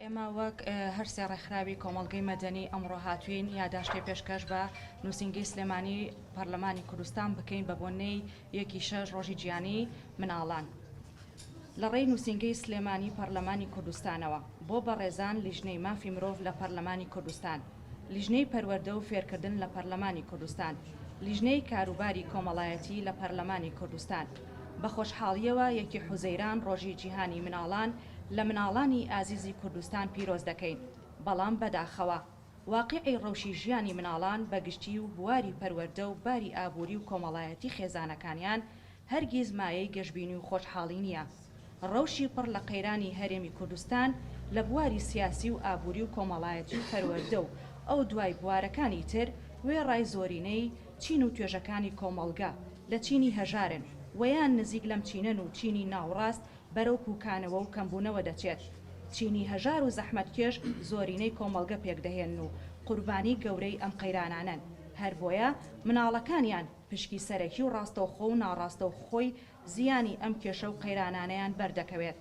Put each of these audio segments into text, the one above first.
ئێمە وەک هەر سێ ڕێکخراوی کۆمەڵگەی مەدەنی ئەمڕۆ هاتووین یاداشتێ پێشکەش بە نووسینگەی سلێمانی پەرلەمانی کوردستان بکەین بە بۆنەی یەکی شەش ڕۆژی جیانی مناڵان لە ڕێی نووسینگەی سلێمانی پەرلەمانی کوردستانەوە بۆ بەڕێزان لیژنەی مافی مرۆڤ لە پەرلەمانی کوردستان لیژنەی پەروەردە و فێرکردن لە پەرلەمانی کوردستان لیژنەی کاروباری کۆمەڵایەتی لە پەرلەمانی کوردستان بە خۆشحاڵییەوە یەکی حوزەیران ڕۆژی جیهانی مناڵان لە مناڵانی ئازیزی کوردستان پیرۆز دەکەین، بەڵام بەداخەوە واقیعی ڕەوشی ژیانی مناڵان بە گشتی و بواری پەروەردە و باری ئابووری و کۆمەڵایەتی خێزانەکانیان هەرگیز مایەی گەشبینی و خۆشحاڵی نییە. ڕەوشی پڕ لە قەیرانی هەرێمی کوردستان لە بواری سیاسی و ئابووری و کۆمەڵایەتی و پەروەردە و ئەو دوای بوارەکانی تر وێڕای زۆرینەی چین و توێژەکانی کۆمەڵگە لە چینی هەژارن وەیان نزیک لەم چینەن و چینی ناوڕاست بەرەو پووکانەوە و کەمبوونەوە دەچێت، چینی هەژار و زەحمەتکێش زۆرینەی کۆمەڵگە پێکدەهێنن و قوربانی گەورەی ئەم قەیرانانەن، هەر بۆیە مناڵەکانیان پشکی سەرەکی و ڕاستەوخۆ و ناڕاستەوخۆی زیانی ئەم کێشە و قەیرانانەیان بەردەکەوێت،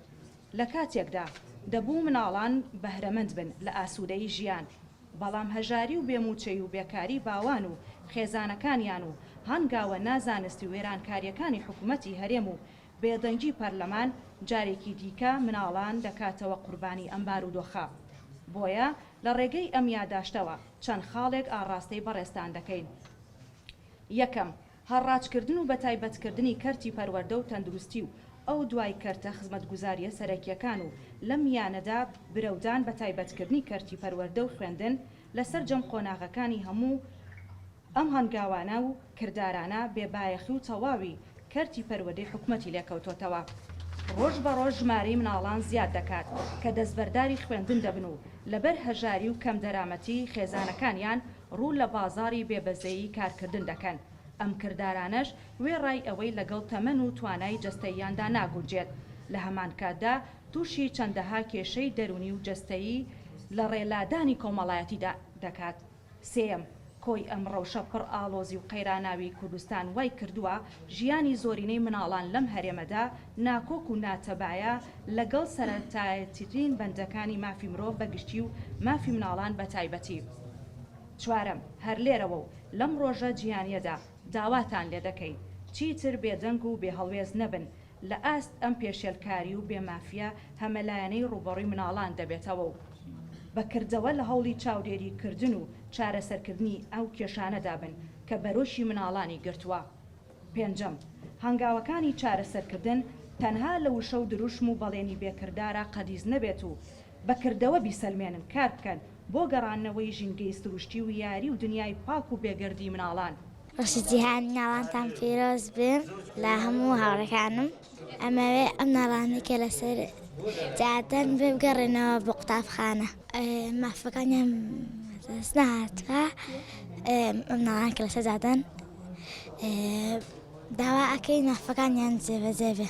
لە کاتێکدا دەبوو مناڵان بەهرەمەند بن لە ئاسوودەیی ژیان، بەڵام هەژاری و بێ مووچەی و بێکاری باوان و خێزانەکانیان و هەنگاوە نازانست و وێرانکارییەکانی حکومەتی هەرێم و بێدەنگی پەرلەمان جارێکی دیکە مناڵان دەکاتەوە قوربانی ئەم بارودۆخە. بۆیە لە ڕێگەی ئەم یاداشتەوە چەند خاڵێک ئاڕاستەی بەڕێزتان دەکەین. یەکەم، هەڕاجکردن و بەتایبەتکردنی کەرتی پەروەردە و تەندروستی و ئەو دوای کەرتە خزمەتگوزارییە سەرەکییەکان و لەم میانەدا برەودان بە تایبەتکردنی کەرتی پەروەردە و خوێندن لە سەرجەم قۆناغەکانی هەموو ئەم هەنگاوانە و کردارانە بێ بایەخی و تەواوی کەرتی پەروەدەی حکومەتی لێکەوتۆتەوە. ڕۆژ بە ڕۆژ ژمارەی مناڵان زیاد دەکات کە دەستبەرداری خوێندن دەبن و لەبەر هەژاری و کەم دەرامەتی خێزانەکانیان ڕوو لە بازاڕی بێ بەزەیی کارکردن دەکەن. ئەم کردارانەش وێڕای ئەوەی لەگەڵ تەمەن و توانای جەستەییاندا ناگونجێت، لە هەمان کاتدا تووشی چەندەها کێشەی دەروونی و جەستەیی لە ڕێ لادانی کۆمەڵایەتیدا دەکات. سێیەم، کۆی ئەم ڕەوشە پڕ ئاڵۆزی و قەیراناویی کوردستان وای کردووە ژیانی زۆرینەی مناڵان لەم هەرێمەدا ناکۆک و ناتەبایە لەگەڵ سەرەتاییترین بەندەکانی مافی مرۆڤ بە گشتی و مافی مناڵان بە تایبەتی. چوارەم، هەر لێرەوە و لەم ڕۆژە جیهانییەدا داواتان لێ دەکەین چیتر بێدەنگ و بێهەڵوێست نەبن، لە ئاست ئەم پێشێلکاری و بێ مافیە هەمەلایەنەی ڕووبەڕووی مناڵان دەبێتەوە و بە کردەوە لە هەوڵی چاودێری کردن و چارەسەر کردنی ئەو کێشانەدا بن کە بەرۆکی مناڵانی گرتووە. پێنجەم، هەنگاوەکانی چارەسەر کردن تەنها لە وشە و دروشم و بەڵێنی بێ کردارا قەدیس نەبێت و بە کردەوە بیسەلمێنن کار بکەن، بۆ گەڕاندنەوەی ژینگەی سروشتی و یاری و دنیای پاک و بێگەردی مناڵان. ڕۆژی جیهانی ناڵانتان پیرۆز بێ لە هەموو هاوڕێکانم. ئەمەوێ ئەم ناڵانەی کە لەسەر جادەن بێ بگەڕێنەوە بۆ قوتابخانە. مافەکانیان بەدەست نەهاتووە. ئەم ناڵانە کە لەسەر جادەن داوا ئەکەین مافەکانیان جێبەجێ بێ.